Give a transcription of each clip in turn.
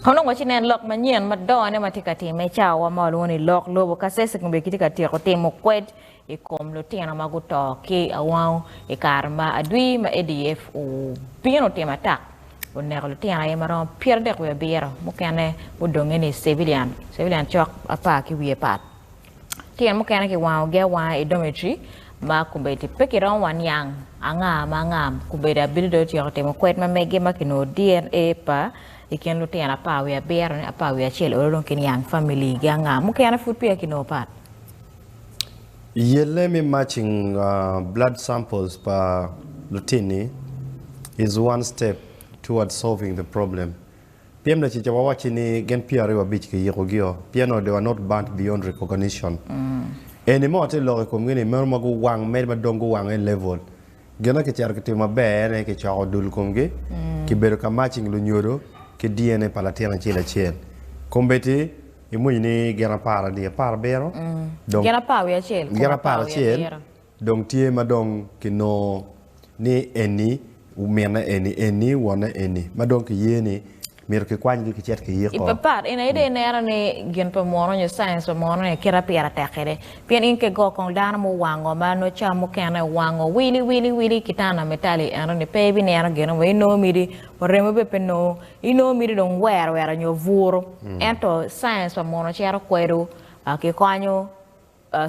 Onongo ci nen lok manyen madongone ma tye ka timme i cawa ma walwongo ni lok lobo ka CEC onongo kitye ka tyeko timo kwed i kom lutino ma guto ki awangu i kare ma adwi ma ADF obino otim atak oneko lutino aye ma romo pyeradek wiye abiro, mukene mudonge ni civilian, civilian cok apar ki wiye pat. Tyen mukene kiwangogi awanga i dometri ma kombeddi pe kiromo wa niang anga ma anga. Kombeddi abino dong tyeko timo kwed ma mege ma kinongo DNA pa i kin lutino apar wiye abiro ni apar wiye acel olo dong kiniang family gi anga. Mukene pud peya kinongo pat. Yelle me matching blood samples pa lutinni is one step towards solving the problem. Pyem lacica wawacci ni gin pye aryo abic kiyikogio pien odo wa not burnt beyond recognition. Eni mo atye loko i komgi ni meno ma guwang medo ma dong guwang en level. Gin ma kicito kitimo maber en aye kicoko dul komgi, kibedo ka matching lunyodo ki DNA pa latin acel acel. Kombeddi imwonyo ni gin apar adi? Apar abiro? Dong Gin apar wiye acel kom gin apar acel. Dong tye ma dong kinongo ni eni mine eni, eni wone eni, ma dong kiye ni myero kikwanygi kicit ki yiko. Ipapat, in aye dong ineno ni gin pa muno nyo science pa muno ni kit apira tek kwede. Pien in ke go kong dano muwango ma nongo cam mukene owango wili wili wili kitana mitali ento ni pe ibineno gin mo, inongo miti wa remo bene pe nongo, inongo miti dong wero wera nyo buru. Ento science pa muno cito kwedo, kikonyo.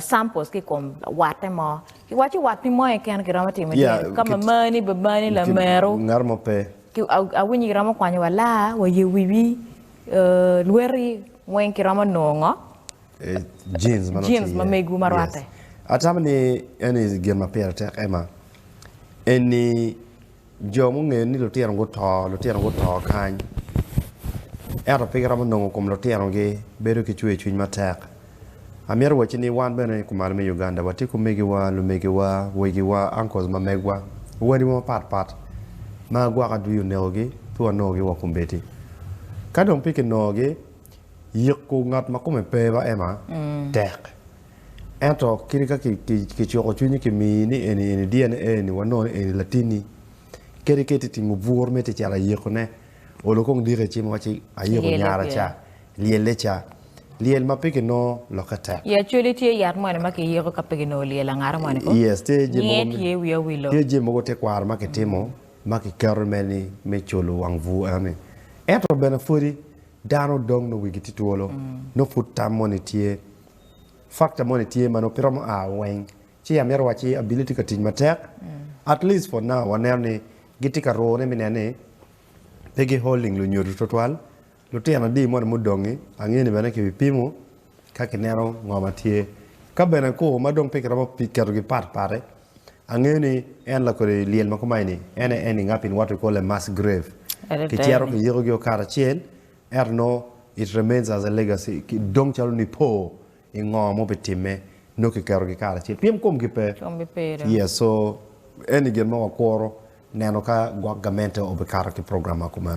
Samples ki kom watte mo. Ki waco wat pi mo keken ki romo timo yeah, tyen. Kama mani, bamani, lameru. Ngat mo pe. Ki awinyi ki romo kwanyo wa laa, wa ye wiwi, uh, lweti, weng ki romo nongo. Eh, jeans mano tye. Jeans ma megu ma rwate. Yes. Atamo ni, eni gin ma pire tek, Emma, eni Jo mungeyo ni lutino guto, lutino guto kany, ento pe giromo nongo kom lutinogi, bedo ki cwercwiny matek. Amito wacci ni wan bene i kumalo me Uganda watye ki omegiwa, lumegiwa, wegiwa, uncles ma megwa, wadiwa mapat pat ma gwoko adwi onekogi pe wanongogi wa kombeddi. Ka dong pe kinongogi, yiko ngat ma kome pe ba Emma tek. Ento kit ka kicuko cwinyi kimiyi ni eni eni dyene eni wa nono eni latinni kadi ka itye timo bur me tye cito ayikone olo kong diki i cim iwacci ayiko nyara ca lyelle ca lyel ma pe kinongo lokke tek. I Acholi tye yat moni ma kiyiko ka pe kinongo lyel angata moni ko? Yes tye jami mogo Nge tye wi awilo. Tye jami mogo tekwaro ma kitimo ma kiketo me ni me colo wang bur enoni ento bene pwodi dano dong nongo wigi tye twolo nongo pud tam moni tye factor moni tye ma nongo pe romo a weng ci amito wacci abili tye ka tic matek at least for now waneno ni gitye ka ruu ne me neno ni pe gi holding lunyodo twatwal lutino adi moni mudongi ange ni bene kibi pimo ka kineno ngo ma tye ka bene ku ma dong pe ki romo keto gi pat pat ange ni en lakodi lyel ma kumaeni en aye ending up in what we call a mass grave ki cito ki yiko gi o kare acel Ento nongo it remains as a legacy ki dong calo nipo i ngo ma obitimme nongo kiketo gi karacel pien komgi pe Komgi pe dong. yes so eni gin ma wakuro neno ka gwok gamente obikato ki program ma kumeno.